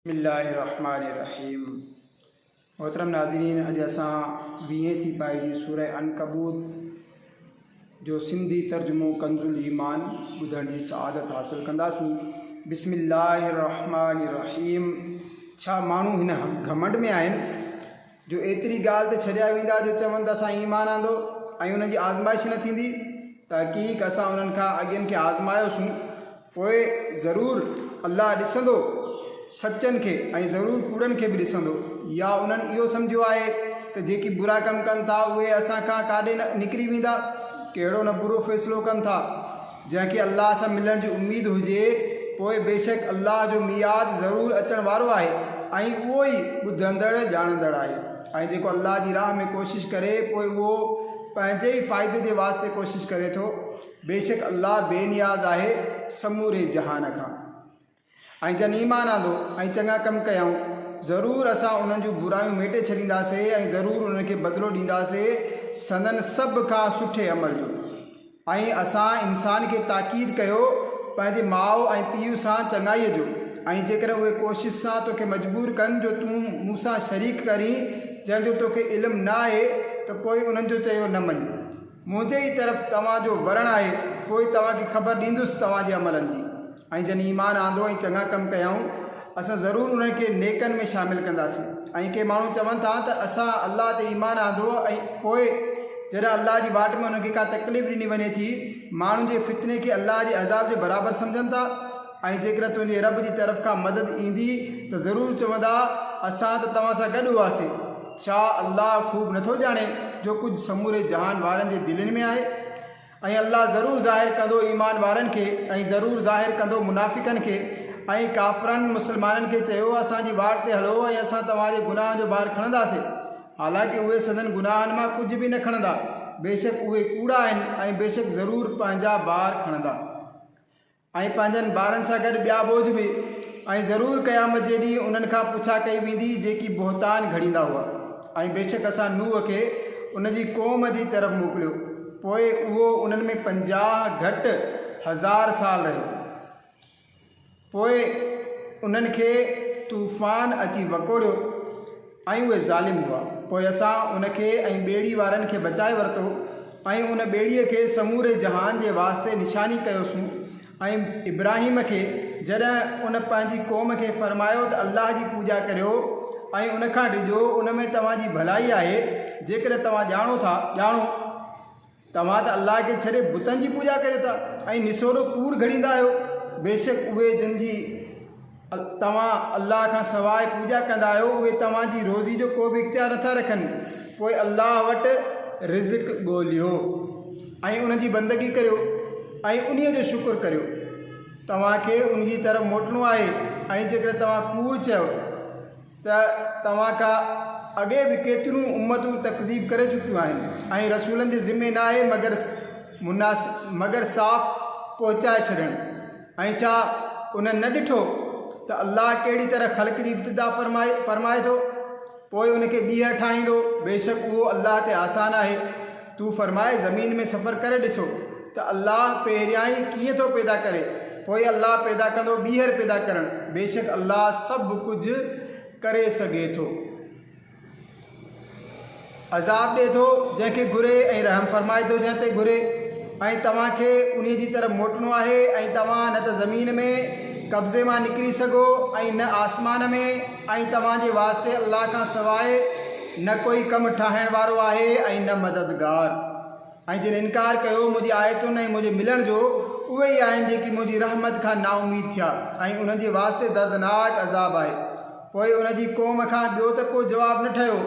بسم الله الرحمٰن الرحيم محترم ناظرين اڄ اسان ويهين سيپاهي جي سوره عنڪبوت جو سنڌي ترجمو ڪنز الايمان ٻڌڻ جي سعادت حاصل ڪنداسين بسم الله الرحمٰن الرحيم ڇا ماڻهو هن گھمنڊ ۾ آهن جو ايتري ڳالهه تي ڇڏيا ويندا جو چون ته اسان ايمان آندو ۽ انهن جي آزمائش نه ٿيندي، تحقيق اسان انهن کان اڳين کي آزمايوسون، پوء ضرور الله ڏسندو سچن کي ۽ ضرور ڪوڙن کي به ڏسندو، يا انهن اهو سمجهيو آهي ته جيڪي برا ڪم ڪن ٿا اهي اسان کان ڪاڏي نه نڪري ويندا، ڪهڙو نه برو فيصلو ڪن ٿا. جنهن کي الله سان ملڻ جي اميد هجي، پوء بيشڪ الله جو ميعاد ضرور اچڻ وارو آهي ۽ اهو ئي ٻڌندڙ ڄاڻندڙ آهي. ۽ جيڪو الله جي راهه ۾ ڪوشش ڪري پوء اهو پنهنجي ئي فائدي جي واسطي ڪوشش ڪري ٿو، بيشڪ الله بي نياز آهي سموري جهان کان. ۽ جن ايمان آندو ۽ چڱا ڪم ڪيائون، ضرور اسان انهن جون برايون ميٽي ڇڏينداسين ۽ ضرور انهن کي بدلو ڏينداسين سندن سڀ کان سٺي عمل جو. ۽ اسان انسان کي تاڪيد ڪيو پنهنجي ماء ۽ پيء سان چڱائيء جو، ۽ جيڪڏهن اهي ڪوشش سان توکي مجبور ڪن جو تون مون سان شريڪ ڪرين جنهن جو توکي علم نه آهي ته پوء انهن جو چيو نه مڃ. منهنجي ئي طرف توهان جو ورڻ آهي، پوء توهان کي خبر ڏيندس توهان جي عملن جي. ۽ جن ايمان آندو ۽ چڱا ڪم ڪيائون، اسان ضرور انهن کي نيڪن ۾ شامل ڪنداسين. ۽ ڪي ماڻهو چون ٿا ته اسان الله تي ايمان آندو ۽ پوء جڏهن الله جي واٽ ۾ انهن کي ڪا تڪليف ڏني وڃي ٿي، ماڻهن جي فتني کي الله جي عذاب جي برابر سمجهن ٿا، ۽ جيڪڏهن تنهنجي رب جي طرف کان مدد ايندي ته ضرور چوندا، اسان ته توهان سان گڏ هئاسين. ڇا الله خوب نٿو ڄاڻي جو ڪجهه سموري جهان وارن جي دلين ۾ آهي؟ ۽ الله ضرور ظاهر ڪندو ايمان وارن کي ۽ ضرور ظاهر ڪندو منافقن کي ۽ ڪافرن مسلمانن کي چيو اسان جي واٽ تي هلو ۽ اسان توهان جي گناهن جو بار کڻنداسين حالانڪه اهي سندن گناهن مان ڪجهه به نه کڻندا بيشڪ اهي ڪوڙا آهن ۽ بيشڪ ضرور پنهنجا بار کڻندا. ۽ پنهنجن ٻارن سان گڏ ٻيا ٻوجھ به، ۽ ضرور قيامت جي ڏينهن انهن کان پڇا ڪئي ويندي جيڪي بهتان گهڙيندا هئا، ۽ بيشڪ اسان نوح کي ان جي قوم جي طرف موڪليو، پوء اهو انهن ۾ پنجاهه گهٽ هزار سال رهيو، پوء انهن کي طوفان اچي وڪوڙيو. ۽ اهي ظالم هئا. پوء اسان ان کي ۽ ٻيڙي وارن کي بچائي ورتو ۽ ان ٻيڙيء کي سموري جهان جي واسطي نشاني ڪيوسون ۽ ابراهيم کي جڏهن ان پنهنجي قوم کي فرمايو ته الله جي پوڄا ڪريو ۽ ان کان ڊڄو ان ۾ توهان جي ڀلائي آهي جيڪڏهن توهان ڄاڻو ٿا ڄاڻو توهان ته الله کي ڇڏي بتن جي پوڄا ڪريو ٿا ۽ نسوڙو ڪوڙ گهڙيندا آهيو. بيشڪ اهي جن جي توهان الله کان سواء پوڄا ڪندا آهيو اهي توهان جي روزي جو ڪو به اختيار نٿا رکن. پوء الله وٽ رزق ڳوليو ۽ ان جي بندگي ڪريو ۽ انهي جو شڪر ڪريو. توهان کي ان جي طرف موٽڻو آهي ۽ جيڪڏهن توهان ڪوڙ چيو. ته توهان کان اڳي به ڪيتريون امتون تڪذيب ڪري چڪيون آهن ۽ رسولن جي ذمي ناهي مگر مناس مگر صاف پهچائي ڇڏڻ ۽ ڇا انهن نه ڏٺو ته الله ڪهڙي طرح خلق جي ابتدا فرمائي فرمائي ٿو پوء ان کي ٻيهر ٺاهيندو بيشڪ اهو الله تي آسان آهي. تون فرماء زمين ۾ سفر ڪري ڏسو ته الله پهريائين ڪيئن ٿو پيدا ڪري پوء الله پيدا ڪندو ٻيهر پيدا ڪرڻ بيشڪ الله سڀ ڪجهه ڪري سگهي ٿو. عذاب ڏئي ٿو جنهن کي گهري ۽ رحم فرمائي ٿو جنهن تي گهري ۽ توهان کي انهي جي طرف موٽڻو آهي ۽ توهان نه ته زمين ۾ قبضي مان نڪري سگهو ۽ نه آسمان ۾. ۽ توهان جي واسطي الله کان سواء نه ڪوئي ڪم ٺاهڻ وارو آهي ۽ نه مددگار. ۽ جن انڪار ڪيو منهنجي آيتن ۽ منهنجي ملڻ جو، اهي ئي آهن جيڪي منهنجي رحمت کان نااميد ٿيا، ۽ انهن جي واسطي دردناڪ عذاب آهي. پوء ان جي قوم کان ٻيو ته ڪو جواب نه ٺهيو،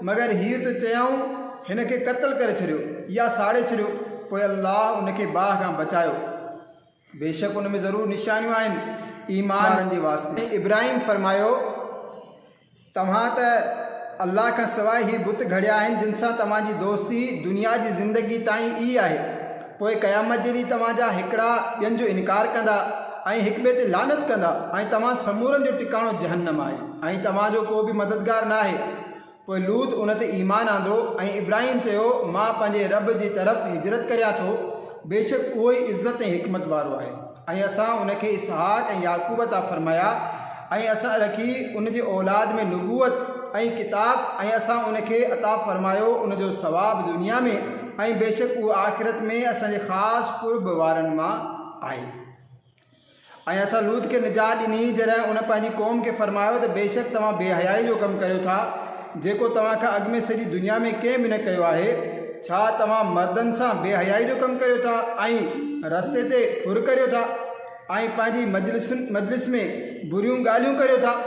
مگر هيء ته چيائون، هن کي قتل ڪري ڇڏيو، يا ساڙي ڇڏيو، پوء الله ان کي باهه کان بچايو. بيشڪ ان ۾ ضرور نشانيون آهن ايمان وارن جي واسطي. ۽ ابراهيم فرمايو، توهان ته الله کان سواء اهي بت گهڙيا آهن جن سان توهان جي دوستي دنيا جي زندگيء تائين ئي آهي، پوء قيامت جي ڏينهن توهان جا هڪڙا ٻين جو انڪار ڪندا ۽ هڪ ٻئي تي لعنت ڪندا ۽ توهان سمورن جو ٽڪاڻو جهنم آهي ۽ توهان جو ڪو به مددگار ناهي پوء لوط ان تي ايمان آندو ۽ ابراهيم چيو، مان پنهنجي رب جي طرف هجرت ڪريان ٿو، بيشڪ اهو ئي عزت ۽ حڪمت وارو آهي ۽ اسان ان کي اسحاق ۽ يعقوب عطا فرمايا ۽ اسان رکي ان جي اولاد ۾ نبوت ۽ ڪتاب ۽ اسان ان کي عطا فرمايو ان جو ثواب دنيا ۾ ۽ بيشڪ اهو آخرت ۾ اسان جي خاص قرب وارن مان آهي. ۽ اسان لوط کي نجات ڏني، جڏهن ان پنهنجي قوم کي فرمايو ته بيشڪ توهان بي حيائي جو ڪم ڪريو ٿا، جيڪو توهان کان اڳ ۾ سڄي دنيا ۾ ڪنهن به نه ڪيو آهي، ڇا توهان مردن سان بي حيائي جو ڪم ڪريو ٿا ۽ رستي تي ڦر ڪريو ٿا ۽ پنهنجي مجلس ۾ بريون ڳالهيون ڪريو ٿا.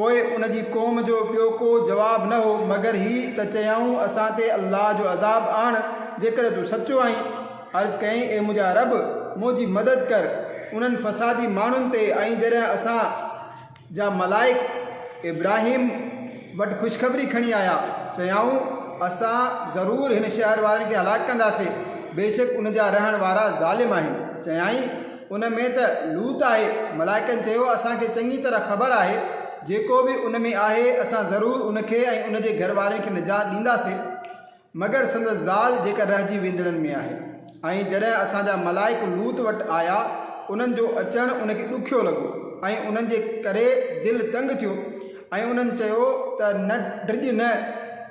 پوء ان جي قوم جو ٻيو ڪو جواب نه هو مگر هي ته چيائون، اسان تي الله جو عذاب آڻ جيڪڏهن تون سچو آهين. عرض ڪيائين، اي منهنجا رب! منهنجي مدد ڪر انهن فسادي ماڻهن تي ۽ جڏهن اسان جا ملائڪ ابراهيم وٽ خوشخبري کڻي آيا، چيائون، اسان ضرور هن شهر وارن کي هلاڪ ڪنداسين، بيشڪ ان جا رهڻ وارا ظالم آهن. چيائين. ان ۾ ته لوط آهي. ملائڪن چيو، اسان کي چڱي طرح خبر آهي، جيڪو به ان ۾ آهي، اسان ضرور ان کي ۽ ان جي گهر وارن کي نجات ڏينداسين، مگر سندس زال جيڪا رهجي ويندڙن ۾ آهي. ۽ جڏهن اسان جا ملائڪ لوط وٽ آيا، انهن جو اچڻ ان کي ڏکيو لڳو ۽ انهن جي ڪري دل تنگ ٿيو. ۽ انهن چيو ته نه ڊڄ نه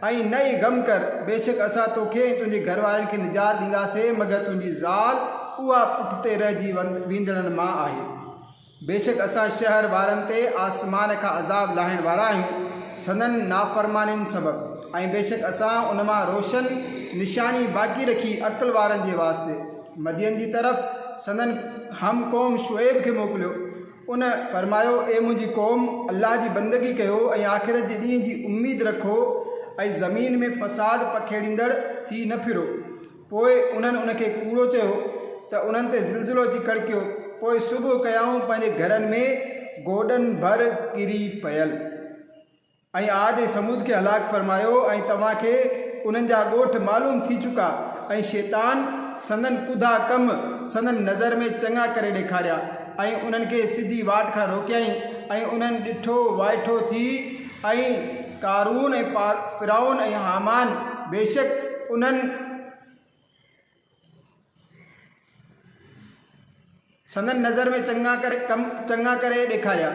۽ نه ئي غم ڪر، بيشڪ اسان توکي ۽ تنهنجي گهر وارن کي نجات ڏينداسين مگر تنهنجي زال اها پٺتي رهجي ويندڙن مان آهي. بيشڪ اسان شهر وارن تي آسمان کان عذاب لاهڻ وارا آهيون سندن نافرمانين سبب ۽ بيشڪ اسان ان مان روشن نشاني باقي رکي عقل وارن جي واسطي مدين جي طرف سندن هم قوم شعيب کي موڪليو. ان فرمايو، اي منهنجي قوم! الله جي بندگي ڪيو ۽ آخرت جي ڏينهن جي اميد رکو ۽ زمين ۾ فساد پکيڙيندڙ ٿي نه ڦرو. پوء انهن ان کي ڪوڙو چيو ته انهن تي زلزلو اچي ڪڙڪيو. پوء صبح ڪيائون پنهنجي گهرن ۾ گوڏن ڀر ڪري پيل. ۽ عاد ۽ ثمود کي هلاڪ فرمايو ۽ توهان کي انهن جا ڳوٺ معلوم ٿي چڪا ۽ شيطان سندن ڪوڌا ڪم سندن نظر ۾ چڱا ڪري ڏيکاريا ۽ انهن کي سڌي واٽ کان روڪيائين ۽ انهن ڏٺو وائٺو ٿي ۽ قارون ۽ فرعون ۽ هامان بيشڪ انهن سندن نظر ۾ چڱا ڪري ڪم چڱا ڪري ڏيکاريا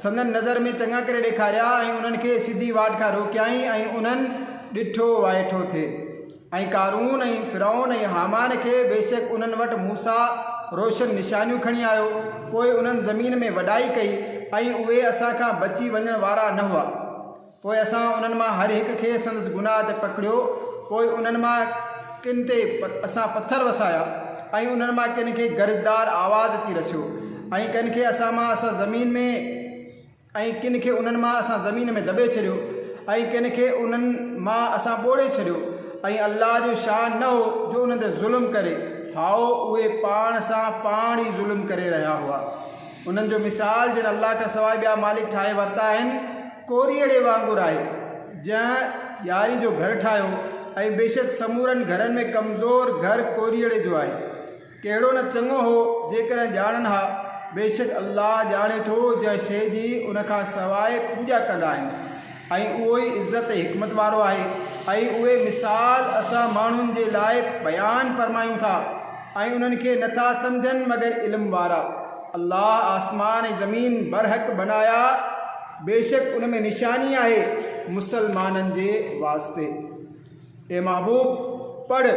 سندن نظر ۾ چڱا ڪري ڏيکاريا ۽ انهن کي سڌي واٽ کان روڪيائين ۽ انهن ڏٺو وائٺو ٿي ۽ قارون ۽ فرعون ۽ هامان کي بيشڪ انهن وٽ موسيٰ روشن نشانيون کڻي آيو پوء انهن زمين ۾ وڏائي ڪئي ۽ اهي اسان کان بچي وڃڻ وارا نه هئا پوء اسان انهن مان هر هڪ کي سندس گناهه تي پڪڙيو، پوء انهن مان ڪن تي اسان پٿر وسايا، ۽ انهن مان ڪن کي گرجدار آواز اچي رسيو، ۽ ڪن کي اسان مان اسان زمين ۾، ۽ ڪن کي انهن مان اسان زمين ۾ دٻي ڇڏيو، ۽ ڪن کي انهن مان اسان ٻوڙي ڇڏيو، ۽ الله جو شان نه هو جو انهن تي ظلم ڪري، هائو، اهي پاڻ سان پاڻ ئي ظلم ڪري رهيا هئا. انهن جو مثال، جن الله کان سواء ٻيا مالڪ ٺاهي ورتا آهن. ڪوري اڙي وانگر آهي، جنهن ڄاري جو گهر ٺاهيو ۽ بيشڪ سمورن گهرن ۾ ڪمزور گهر ڪوري اڙي جو آهي. ڪهڙو نه چڱو هو جيڪڏهن ڄاڻن ها، بيشڪ الله ڄاڻي ٿو جنهن شيء جي ان کان سواء پوڄا ڪندا آهن ۽ اهو ئي عزت ۽ حڪمت وارو آهي ۽ اهي مثال اسان ماڻهن جي لاء بيان فرمايون ٿا. ۽ انهن کي نه ٿا سمجهن مگر علم وارا. الله آسمان ۽ زمين برحق بنايا، بيشڪ ان ۾ نشاني آهي مسلمانن جي واسطي. اي محبوب! پڙهه،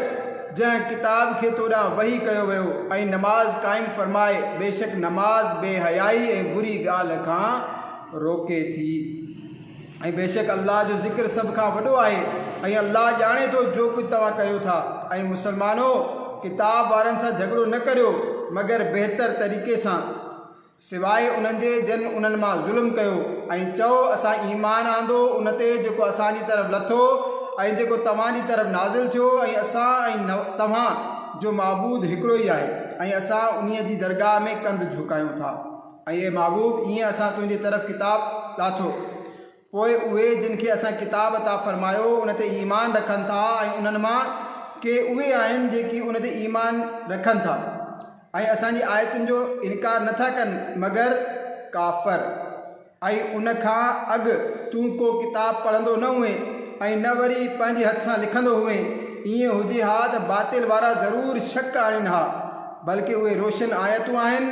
جنهن، ڪتاب، کي تو ڏانهن وحي ڪيو ويو ۽ نماز قائم فرماء، بيشڪ نماز بي حيائي ۽ بري ڳالهه کان روڪي ٿي. ۽ بيشڪ الله جو ذڪر سڀ کان وڏو آهي ۽ الله ڄاڻي ٿو جو ڪجهه توهان ڪريو ٿا. اي مسلمانو! ڪتاب وارن سان جهڳڙو نه ڪريو مگر بهتر طريقي سان، سواء انهن جي جن انهن مان ظلم ڪيو، ۽ چئو، اسان ايمان آندو ان تي جيڪو اسان جي طرف لٿو ۽ جيڪو توهان جي طرف نازل ٿيو ۽ اسان ۽ توهان جو معبود هڪڙو ئي آهي ۽ اسان انهيء جي درگاهه ۾ ڪنڌ جهڪايون ٿا. اي محبوب! ايئن اسان تنهنجي طرف ڪتاب لاٿو، پوء اهي جن کي اسان ڪتاب عطا فرمايو ان تي ايمان رکن ٿا ۽ انهن مان ڪي اهي آهن جيڪي ان تي ايمان رکن ٿا ۽ اسان جي آيتن جو انڪار نه ٿا ڪن مگر ڪافر ۽ ان کان اڳ تون ڪو ڪتاب پڙهندو نه هئين ۽ نه وري پنهنجي هٿ سان لکندو هئين ايئن هجي ها ته باطل وارا ضرور شڪ آڻين ها بلڪ اهي روشن آيتون آهن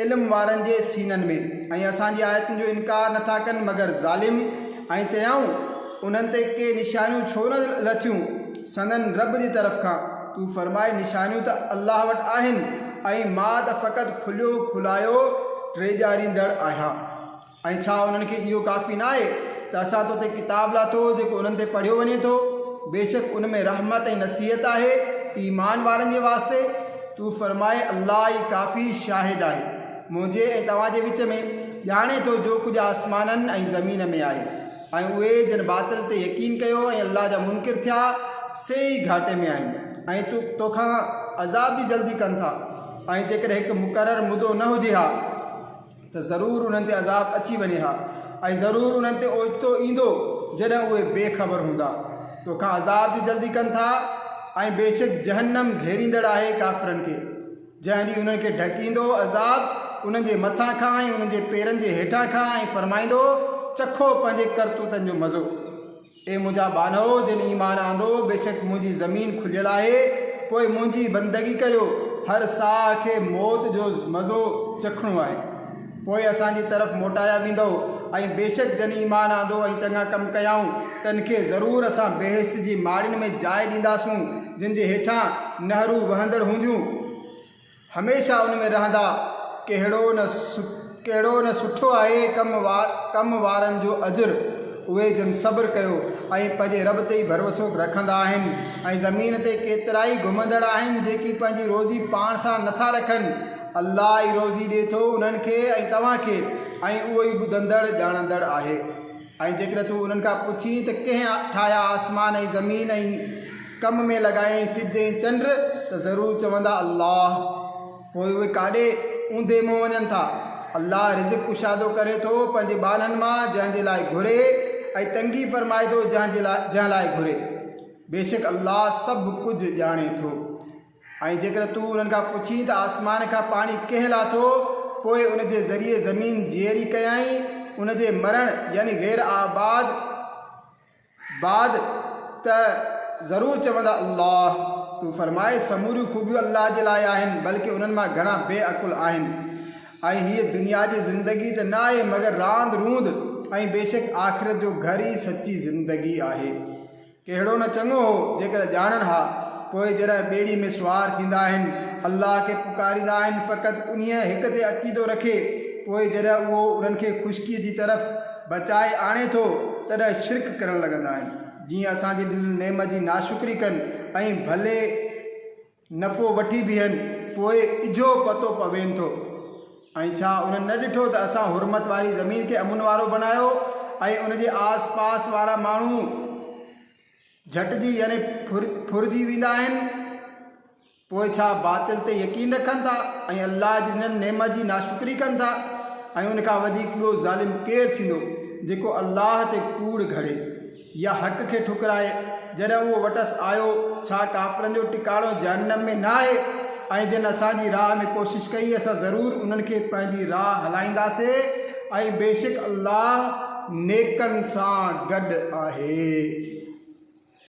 علم وارن جي سينن ۾، ۽ اسان جي آيتن جو انڪار نه ٿا ڪن مگر ظالم، ۽ چيائون، انهن تي ڪي نشانيون ڇو نه لٿيون سندن رب جي طرف کان، تون فرماء نشانيون ته الله وٽ آهن، ۽ مان ته فقط کليو کلايو ڊيڄاريندڙ آهيان. ۽ ڇا انهن کي اهو ڪافي نه آهي ته اسان تو تي ڪتاب لاٿو جيڪو انهن تي پڙهيو وڃي ٿو، بيشڪ ان ۾ رحمت ۽ نصيحت آهي ايمان وارن جي واسطي، تون فرماء الله ئي ڪافي شاهد آهي منهنجي ۽ توهان جي وچ ۾، ڄاڻي ٿو جو ڪجهه آسمانن ۽ زمين ۾ آهي، ۽ اهي جن باطل تي يقين ڪيو ۽ الله جا منڪر ٿيا سي ئي گهاٽي ۾ آهن ۽ تو توکان عذاب جي جلدي ڪن ٿا ۽ جيڪڏهن هڪ مقرر مدو نه هجي ها. ته ضرور انهن تي عذاب اچي وڃي ها ۽ ضرور انهن تي اوچتو ايندو جڏهن اهي بي خبر هوندا توکان عذاب جي جلدي ڪن ٿا ۽ بيشڪ جهنم گهيريندڙ آهي ڪافرن کي جنهن ڏينهن انهن کي ڍڪيندو عذاب انهن جي مٿان کان ۽ انهن جي پيرن جي هيٺان کان ۽ فرمائيندو چکو پنهنجي ڪرتوتن جو مزو. اي منهنجا ٻانهو جن ايمان آندو، بيشڪ منهنجي زمين کليل آهي، پوء منهنجي بندگي ڪريو، هر ساهه کي موت جو مزو چکڻو آهي، پوء اسان جي طرف موٽايا ويندؤ، ۽ بيشڪ جن ايمان آندو ۽ چڱا ڪم ڪيائون، تن کي ضرور اسان بهشت جي ماڙين ۾ جاء ڏينداسون، جن جي هيٺان نهرون وهندڙ هونديون. هميشه ان ۾ رهندا، ڪهڙو نه ڪهڙو نه سٺو آهي ڪم ڪم وارن جو اجر، اهي جن صبر ڪيو ۽ پنهنجي رب تي ئي ڀروسو رکندا آهن ۽ زمين تي ڪيترائي گهمندڙ آهن جيڪي پنهنجي روزي پاڻ سان نه ٿا رکن الله ئي روزي ڏئي ٿو انهن کي ۽ توهان کي ۽ اهو ئي ٻڌندڙ ڄاڻندڙ آهي. ۽ جيڪڏهن تون انهن کان پڇين ته ڪنهن ٺاهيا آسمان ۽ زمين ۽ ڪم ۾ لڳايائين سج ۽ چنڊ ته ضرور چوندا الله پوء اهي ڪاڏي اونڌي منهن وڃن ٿا. الله رزق ڪشادو ڪري ٿو پنهنجي ٻانهن مان جنهن جي لاء گهري ۽ تنگي فرمائي ٿو جنهن جي لاء جنهن لاء گهري. بيشڪ الله سڀ ڪجهه ڄاڻي ٿو. ۽ جيڪڏهن تون انهن کان پڇين ته آسمان کان پاڻي ڪنهن لاٿو، پوء ان جي ذريعي زمين جيئري ڪيائين، ان جي مرڻ يعني غير آباد بعد، ته ضرور چوندا الله. تون فرماء، سموريون خوبيون الله جي لاء آهن، بلڪ انهن مان گهڻا بي عقل آهن. ۽ هيء دنيا جي زندگي ته نه آهي مگر راند روند، ۽ بيشڪ آخرت جو گهر ئي سچي زندگي آهي. ڪهڙو نه چڱو هو جيڪڏهن ڄاڻن ها. پوء جڏهن ٻيڙي ۾ سوار ٿيندا آهن، الله کي پڪاريندا آهن فقط انهيء هڪ تي عقيدو رکي، پوء جڏهن اهو انهن کي خشڪيء جي طرف بچائي آڻي ٿو، تڏهن شرڪ ڪرڻ لڳندا آهن، جيئن اسان جي ڏنل نعمت جي ناشڪري ڪن ۽ ڀلي. نفعو وٺي بيهن پوء اجهو پتو پوين ٿو. ۽ ڇا انهن نه ڏٺو ته اسان حرمت واري زمين کي امن وارو بنايو ۽ ان جي آس پاس وارا ماڻهو جهٽجي يعني ڦرجي ويندا آهن. پوء ڇا باطل تي يقين رکن ٿا ۽ الله جي ڏنل نعمت جي ناشڪري ڪن ٿا ۽ ان کان وڌيڪ ٻيو ظالم ڪير ٿيندو جيڪو الله تي ڪوڙ گهڙي. يا حق کي ٺڪرائي جڏهن اهو وٽس آيو، ڇا ڪافرن جو ٽڪاڻو جهنم ۾ نه آهي ۽ جن اسان جي راهه ۾ ڪوشش ڪئي اسان ضرور انهن کي پنهنجي راهه هلائينداسين ۽ بيشڪ الله نيڪن سان گڏ آهي.